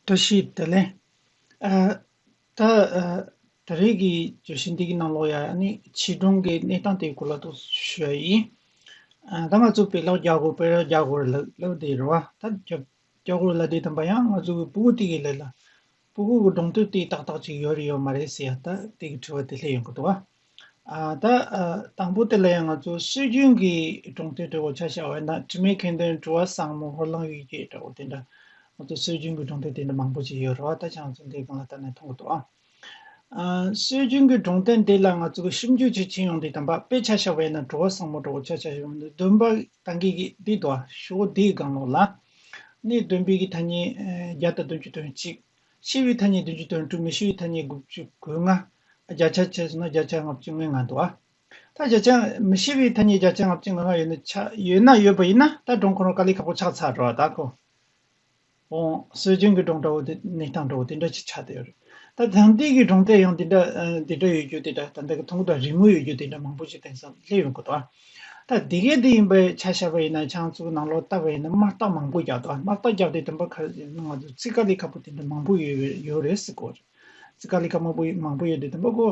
བཀྲ་ཤིས་བདེ་ལེགས། ད་ད་རེས་ཀྱི་བརྗོད་གཞི་འདི་གི་ནང་ལོགས་ཡ་ནི་བྱིས་སྒྲུང་གི་གནས་སྟངས་དེའི་སྐོར་ལ་ཏོག་ཙམ་ཞུ་ཡ་ཡིན། ད་ང་ཚོ་བེ་ལག་རྒྱ་གོར་བེ་རག་རྒྱ་གོར་ལ་ལབ་དེ་རེད་བ། ད་རྒྱ་རྒྱ་གོར་ལ་དེ་དམ་པ་ཡང་ང་ཚོ་གི་པུ་གུ་ཏི་གི་ལས་ལ། པུ་གུ་གི་སྒྲུང་དོན་དེ་ཏག་ཏག་ཅིག་ཡོད་རེད་ཡོད་མ་རེད་ཟེར་ཡ་ད་དེ་གི་དྲི་བ་དེ་སླེ་ཡོང་གི་འདུག་བ། དང་པོ་དེ་ལ་ཡང་ང་ཚོ་སྲོལ་རྒྱུན་གྱི་གྲོང་སྡེ་འདྲ་བོ་བྱ་བཞག་བས་ན་དྲི་མེད་མཁྱེན་ལྡན་གྲུ་བ་བཟང་མོ་ཧོར་གླིང་གཡུལ་འགྱེད་འདྲ་བོ་དེ་འདྲ་ང་ཚོ་སྲོལ་རྒྱུན་གྱི་གྲོང་སྡེ་དེ་འདྲ་མང་པོ་ཞིག་ཡོད་རེད་བ་ད་ཆ་ང་ཚོ་འདིའི་སྒང་ལ་བལྟ་ནས་མཐོང་གི་འདུག་ཨ། སྲོལ་རྒྱུན་གྱི་གྲོང་སྡེ་འདི་ལ་ང་ཚོ་གི་ཞིབ་འཇུག་བྱེད་ཆེད་ཡོང་འདི་དང་པ་དཔེ་བྱ་བཞག་བས་ན་གྲུ་བ་བཟང་མོ་འདྲ་བོ་བྱ་བཞག་ཡོང་གི་འདུག་བདུན་པ་དང་གི་གི་འདི་འདུག་ཨ་ཞུ་བོ་འདིའི་སྒང་ལོགས་ལ་ནི་བདུན་པའི་གི་ཐ་སྙད་བརྒྱ་དང་བདུན་ཅུ་དོན་གཅིག། ཕྱི་ཡུལ་ཐ་སྙད་བདུན་ཅུ་དོན་དྲུག་མི་ཤི་ཡུལ་ཐ་སྙད་དགུ་བཅུ་གོ་ལྔ། བརྒྱ་ཆ་བཅས་སོ་ན་བརྒྱ་ཆ་ལྔ་བཅུ་ལྔའི་ང་དོ་ཨ། ད་བརྒྱ་ཆ། མི་ཤི་བའི་ཐ་སྙད་བརྒྱ་ཆ་ལྔ་བཅུ་ང་ལྔ་ཡོད་ན་ཆ་ཡོད་ན་ཡོད་པ་ཡིན་ན་ད་གྲོང་ཁོ་རང་དཀའ་ལས་ཁག་པོ་ཆགས་ཚར་རོ་ད་གོ། འོང། སྲོལ་རྒྱུན་གྱི་གྲོང་འདྲ་བོ་དེ་གནས་སྟངས་འདྲ་བོ་དེ་འདྲ་ཅིག་ཆགས་བསྡད་ཡོད་རེད། ད་དེང་དུས་ཀྱི་གྲོང་སྡེ་ཡང་དེ་འདྲ་དེ་འདྲ་ཡོད་རྒྱུ་དེ་འདྲ་ད་ལྟ་གི་ཐོག་མཐའ་རིང་མོ་ཡོད་རྒྱུ་དེ་འདྲ་མང་པོ་ཞིག་དེང་སང་སླེབས་ཡོང་གི་འདུག་ཨ། ད་དེ་གས་དེ་ཡིན་པ་ཆ་བཞག་པ་ཡིན་ན་ཆང་བཙོ་ནང་ལོག་བཏབ་པ་ཡིན་ན་དམག་རྟགས་མང་པོ་རྒྱག་དགོས་དམག་རྟགས་རྒྱག་དུས་དམ་པ་ཁ་ནང་དུ་ཙི་ཀ་ལི་ཁ་པོ་དེ་འདྲ་མང་པོ་ཡོད་ཡོད་རེད་ཟེར་དགོས་རེད་ཙི་ཀ་ལི་ཁ་མང་པོ་མང་པོ་ཡོད་དུས་དམ་པ་ཁོ་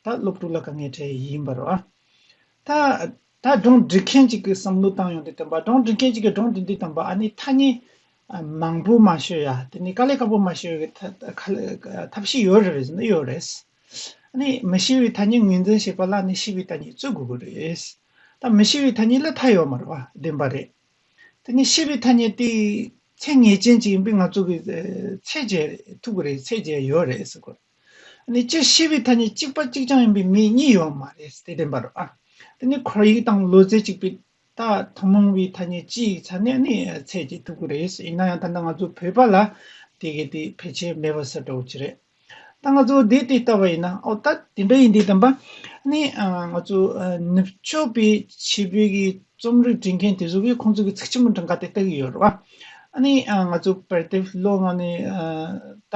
ད་སློབ་ཕྲུག་ལ་དཀའ་ངལ་འཕྲད་ཡིན་པ་རོ། ད་ད་སྒྲུང་འབྲི་མཁན་གཅིག་གིས་བསམ་བློ་བཏང་ཡོང་དུས་དམ་པ་སྒྲུང་འབྲི་མཁན་གཅིག་གིས་སྒྲུང་འབྲི་དུས་དམ་པ་ཨ་ནི་ཐ་སྙད་མང་པོ་མ་ཤོད་ཡ་དེ་ནི་ཀ་ལི་ཁ་པོ་མ་ཤོད་ཐབས་ཤེས་ཡོད་རེད་ཟེར་ན་ཡོད་རེད། ནི་མི་ཤི་བའི་ཐ་སྙད་ངོས་འཛིན་བྱེད་པ་ལ་ནི་ཤི་བའི་ཐ་སྙད་བཙུགས་དགོས་ཀྱི་རེད། ད་མི་ཤི་བའི་ཐ་སྙད་ལ་མཐའ་ཡོད་མ་རེད་པ་བདེན་པ་རེད། དེ་ནི་ཤི་བའི་ཐ་སྙད་དེ་ཚད་ངེས་ཅན་ཅིག་ཡིན་པས་ང་ཚོ་གིས་ཚད་འཇལ་ཐུབ་ཀྱི་རེད་ཚད་འཇལ་ཡོད་རེད་ཟེར་དགོས། ནི་སྤྱིར་ཤི་བའི་ཐ་སྙད་གཅིག་པ་གཅིག་རྐྱང་ཡིན་པའི་མི་གཉིས་ཡོད་མ་རེད་དེ་བདེན་པ་རེད། དེ་ནི་ཁོར་ཡུག་དང་ལུས་རྩལ་གཅིག་པའི་ད་ཐུང་མོང་བའི་ཐ་སྙད་སྤྱི་ཡི་ཚ་གནད་ནི་ཚད་ཀྱིས་ཐུག་གི་རེད། ཡིན་ན་ཡང་ད་ནི་ང་ཚོ་བོད་པ་ལ་དེ་གའི་དེ་ཕལ་ཆེར་མེད་པ་ཟེར་འགྲོ་གི་རེད། ད་ང་ཚོ་བདེ་སྟེ་ལྟ་བ་ཡིན་ན་ཨོ་ད་དེ་འདྲ་ཡིན་དེ་དམ་པ། ནི་ང་ཚོ་ནུབ་ཕྱོགས་པའི་བྱིས་པའི་གི་རྩོམ་རིག་འབྲི་མཁན་དེ་ཚོ་གིས་ཁོང་ཚོ་གི་ཚིག་ཆེན་མོ་འདྲ་འགའ་དེ་ལྟ་གི་ཡོད་རེད་བ། ནི་ང་ཚོ་བར་དེ་ལོ་ང་ནི་ད་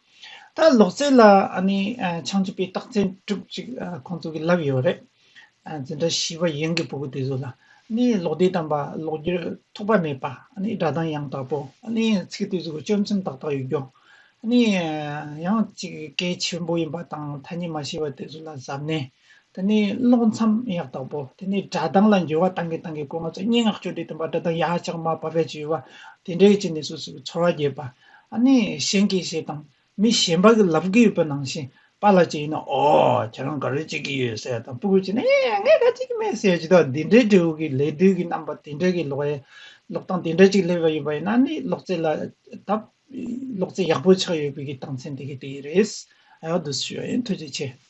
ད་ལོག་རྩེད་ལ་ཆང་བཅུ་པའི་རྟགས་མཚན་གྲུབ་ཅིག་ཁོང་ཚོ་གི་ལབ་ཡོད་རེད། འཛིན་གྲྭ་བཞི་བ་ཡན་གྱི་བུ་གུ་དེ་ཚོ་ལ་ལོག་ལྟས་དམ་པ་ལོག་རྒྱུར་ཐོགས་པ་མེད་པ་སྒྲ་གདངས་ཡང་དག་པོ་ཚིག་ལྟོས་གཟུགས་གཅོད་མཚོན་ཏག་ཏག་ཡོད་རྒྱུ། ཡང་ཅིག་གལ་ཆེན་པོ་ཡིན་པ་དང་ཐ་སྙད་མ་ཤེས་པ་དེ་ཚོ་ལ་གཟབ་ནན་དེ་ནས་ཀློག་མཚམས་ཡག་དག་པོ་དེ་ནས་སྒྲ་གདངས་ལ་འགྱུར་བ་གཏང་གིན་གཏང་གིན་སྐུ་ངོ་ཚ་སྙན་ངག་ཅོ་འདྲི་དང་བ་སྒྲ་གདངས་ཡག་ཅག་མ་བབས་པའི་བྱིས་བ་དེ་འདྲའི་ཅི་ནས་སུ་སུ་གི་ཚོར་བ་རྒྱས་པ་ཨ་ནི་གཞན་གྱིས་ཞེས་དང་མི་གཞན་པ་གི་ལབ་གི་ཡོད་པ་ནང་བཞིན་པ་ལ་ཅིག་ཡིན་ན་ཨོ་ཁྱེད་རང་ག་རེ་བྱེད་ཀྱི་ཡོད་ཟེར་དང་སྤུ་གུས་ཅིག་ན་ངས་ངས་ག་བྱེད་ཀྱི་མེད་ཟེར་ཅིག་དང་འདི་འདྲའི་འབྲས་བུ་གི་ལད་ཟློས་ཀྱི་རྣམ་པ་དེ་འདྲ་གི་ལོག་ཡ་ལོག་གཏང་དེ་འདྲ་ཅིག་སླེབས་པ་ཡོད་པ་ཡིན་ན་ནི་ལོག་རྩེད་ལ་དབ་ལོག་རྩེད་ཡག་པོ་ཆགས་ཡོད་པའི་གི་སྟངས་མཚན་དེ་གི་དེ་གི་རེད་ཨའོ་དུ་སུ་ཞུ་ཡ་ཡིན་ཐུགས་རྗེ་ཆེ།